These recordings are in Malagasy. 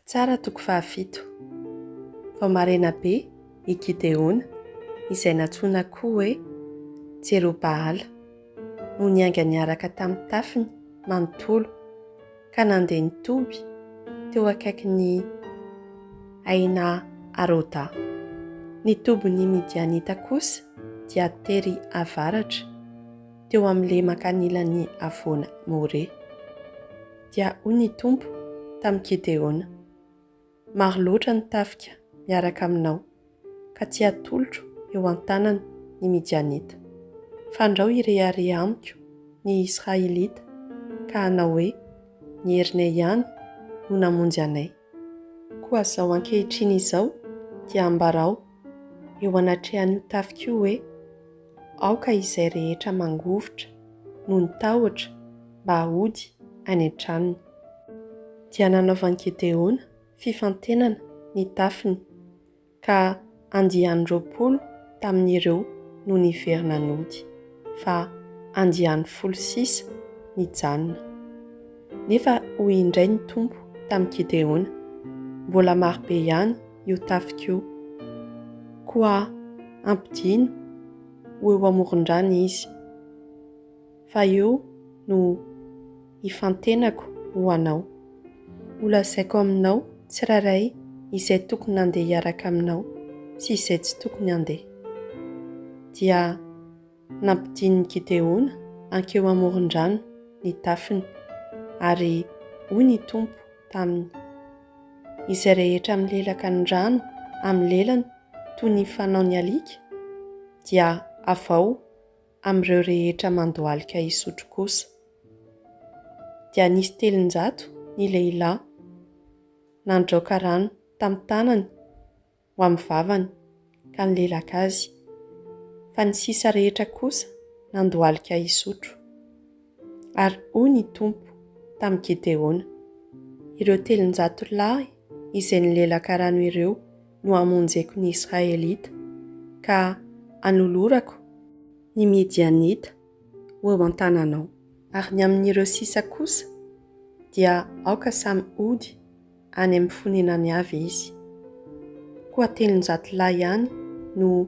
Mpitsara toko fahafito. Vao maraina be, i Gideona, izay nantsoina koa hoe Jerobahala, no niainga niaraka tamin'ny tafiny manontolo, ka nandeha nitoby teo akaikin'i Aina Aroda. Ny tobin'ny Midianita kosa dia tery avaratra, teo amin'ny lemaka anilan'ny havoana More. Dia hoy ny Tompo tamin'i Gedeona, Maro loatra ny tafika miaraka aminao, ka tsy hatolotro eo an-tanany ny Midianita. Fandrao hirehareha amiko ny Israelita ka hanao hoe, Ny herinay ihany no namonjy anay. Koa izao ankehitriny izao dia ambarao eo anatrehan'io tafika io hoe, Aoka izay rehetra mangovitra noho ny tahotra mba hody any an-tranony. Dia nanaovan'i Gedeona fifantenana ny tafiny, ka andiany roapolo tamin'ireo no niverina nody, fa andiany folo sisa nijanona. Nefa hoy indray ny Tompo tamin'i Gideona, Mbola marobe ihany io tafika io. Koa ampidino ho eo amoron-drano izy. fa eo no hifantenako ho anao. Holazaiko aminao tsirairay izay tokony handeha hiaraka aminao sy izay tsy tokony handeha. Dia nampidin'i Gideona hankeo amoron-drano ny tafiny, ary hoy ny Tompo taminy, Izay rehetra milelaka ny rano amin'ny lelany toy ny fanao ny alika, dia avao amin'ireo rehetra mandohalika hisotro kosa, dia nisy telonjato ny lehilahy nandraoka rano tamin'ny tanany ho amin'ny vavany ka nilelaka azy, fa ny sisa rehetra kosa nandohalika hisotro. Ary hoy ny Tompo tamin'i Gedeona, Ireo telonjato lahy izay nilelaka rano ireo no hamonjeko ny Israelita, ka hanolorako ny Midianita ho eo an-tananao. Ary ny amin'ireo sisa kosa, dia aoka samy hody any amin'ny fonenany avy izy. Koa telonjato lahy ihany no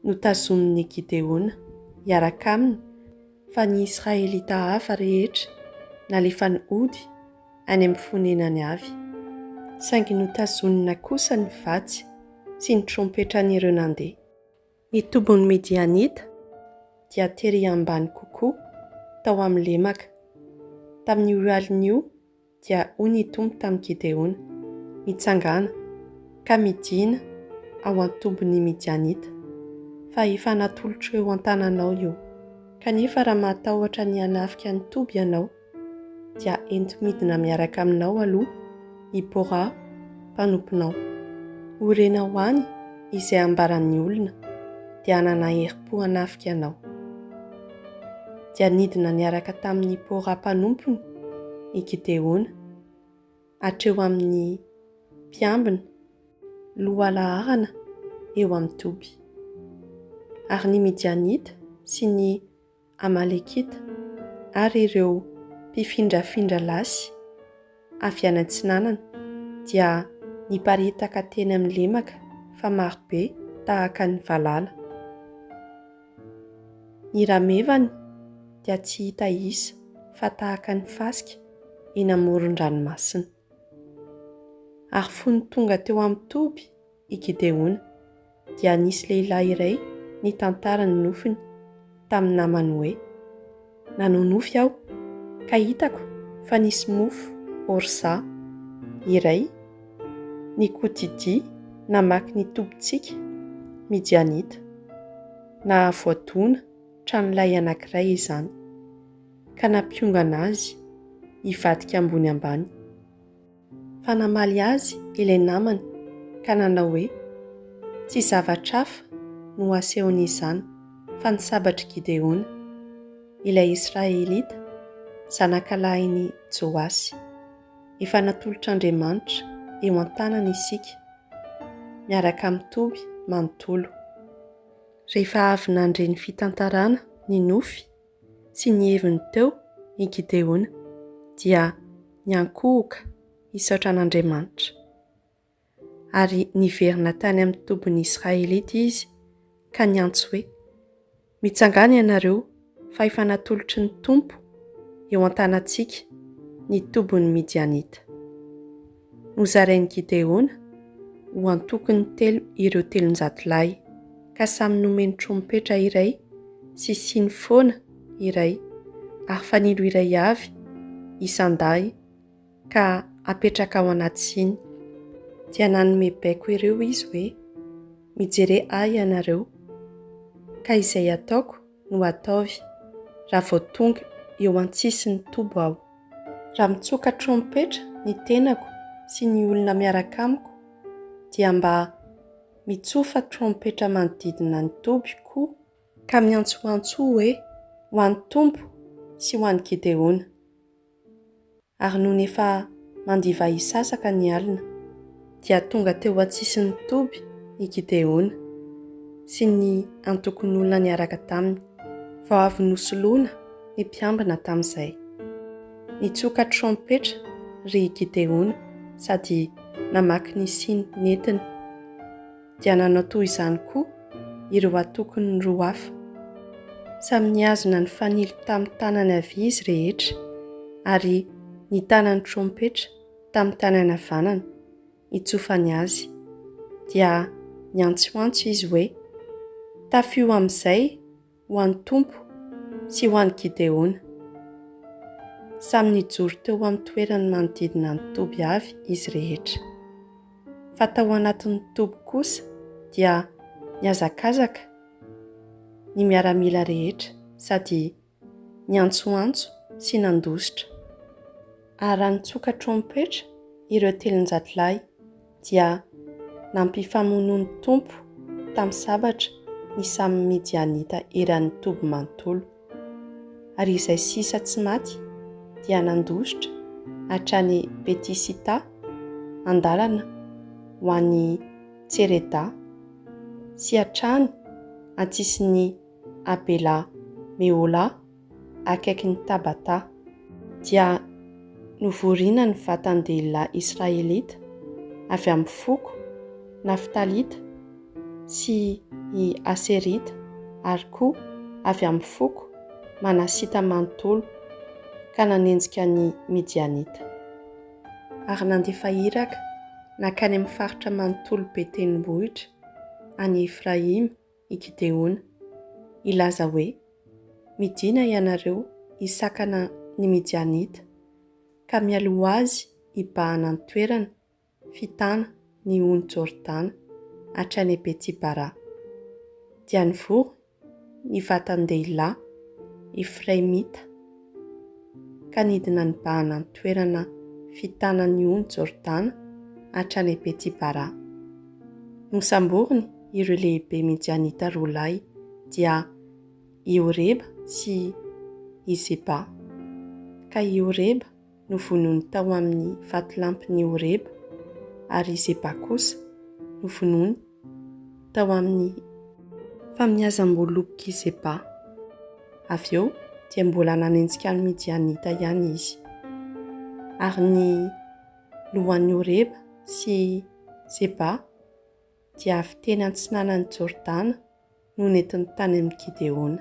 notazomin'i Gedeona hiaraka aminy, Fa ny Israelita hafa rehetra nalefany hody any amin'ny fonenany avy, saingy notazonina kosa ny vatsy sy ny trompetran'ireo nandeha. Ny tobin'ny Midianita dia tery ambany kokoa tao amin'ny lemaka. Tamin'io alin'io dia hoy ny Tompo tamin'i Gideona, Mitsangàna, ka midìna ao an-tobin'ny Midianita, fa efa natolotro eo an-tananao io. Kanefa raha mahatahotra ny hanafika ny toby ianao, dia ento midina miaraka aminao aloha i Bora mpanomponao. Ho renao any izay ambaran'ny olona, dia hanana herim-po hanafika anao. dia nidina niaraka tamin'ny Pora mpanompony i Gideona, hatreo amin'ny mpiambina lohalaharana eo amin'ny toby. Ary ny Midianita sy ny Amalekita ary ireo mpifindrafindra lasy avy any Atsinanana dia niparitaka teny amin'ny lemaka fa marobe tahaka ny valala. Ny ramevany dia tsy hita isa fa tahaka ny fasika eny amoron-dranomasina. Ary fony tonga teo amin'ny toby i Gideona, dia nisy lehilahy iray nitantara ny nofiny tamin'ny namany hoe, Nanao nofy aho, ka hitako fa nisy mofo ôrsa iray nikodidia namaky ny tobintsika Midianita. Nahavoadona tranolay anankiray izany, ka nampiongana azy hivadika ambony ambany. Fa namaly azy ilay namany ka nanao hoe, Tsy zavatra hafa no asehon'izany fa ny sabatr'i Gideona, ilay Israelita, zanakalahin'i Joasy. Efa natolotr'Andriamanitra eo an-tanany isika, miaraka amin'i Toby manontolo. Rehefa avy nandre ny fitantarana ny nofy Tsy ny heviny teo i Gideona, dia niankohoka hisaotra an'Andriamanitra. Ary niverina tany amin'ny tobin'ny Israelita izy ka niantso hoe, Mitsangàna ianareo, fa efa natolotry ny Tompo eo an-tanantsika ny tobin'ny Midianita. Nozarain'i Gideona ho antokony telo ireo telonjato lahy, ka samy nomeny trompetra iray sy siny foana iray ary fanilo iray avy isan-dahy ka apetraka ao anaty siny. Dia nanome baiko ireo izy hoe, Mijere ahy ianareo, ka izay ataoko no ataovy raha vao tonga eo an-tsisin'ny toby aho. Raha mitsoka trompetra ny tenako sy ny olona miaraka amiko dia mba mitsofa trompetra manodidina ny toby koa, ka miantsoantso hoe, Ho an'ny Tompo sy ho an'i Gideona! Ary nony efa mandivahisasaka ny alina. dia tonga teo an-tsisin'ny toby i Gideona sy ny antokon'olona niaraka taminy, vao avy nosoloina ny mpiambina tamin'izay. Nitsoka trompetra ry Gideona sady namaky ny siny nentiny. Dia nanao toy izany koa ireo antokony roa hafa. Samy nihazona ny fanilo tamin'ny tanany havia izy rehetra, ary nitana ny trompetra. tamin'ny tanany havanana, hitsofany azy. Dia niantsoantso izy hoe, Tafio amin'izay ho an'ny Tompo sy ho an'i Gideona! Samy nijoro teo amin'ny toerany manodidina ny toby avy izy rehetra. Fa tao anatin'ny toby kosa dia nihazakazaka ny miaramila rehetra sady niantsoantso sy nandositra. Ary raha nitsoka trompetra ireo telonjato lahy, dia nampifamonoa ny Tompo tamin'ny sabatra ny samy Midianita eran'ny toby manontolo. Ary izay sisa tsy maty dia nandositra hatrany Beti-Sita, an-dalana ho any Tsereda, sy hatrany an-tsisin'i à Bela Meola, akaikin'i Tabatà, dia novoriana ny vatan-dehilahy israelita avy amin'ny foko naftalita sy i aserita ary koa avy amin'ny foko manasita manontolo, ka nanenjika ny Midianita. Ary nandefa iraka nankany amin'ny faritra manontolo be tendrombohitra any Efraima. i Gideona. Hilaza hoe, Midìna ianareo hisakana ny Midianita, ka mialoha azy hibahana ny toerana fitana ny ony Jordana hatrany Beti-bara. Dia nivory ny vatan-dehilahy efraimita. ka nidina nibahana ny toerana fitana ny ony Jordana hatrany à Beti-Bara. Nosamboriny ireo lehibe Midianita roa lahy, dia i Oreba sy i Zeba. Ka i Oreba. novonoiny tao amin'ny vatolampin'i Horeba, ary i Zeba kosa novonoiny tao amin'ny famiazam-bolok'i Zeba. Avy eo dia mbola nanenjika ny Midianita ihany izy, ary ny lohan'i Horeba sy Zeba dia avy teny antsinanan'i Jordana no nentiny tany amin'i Gideona.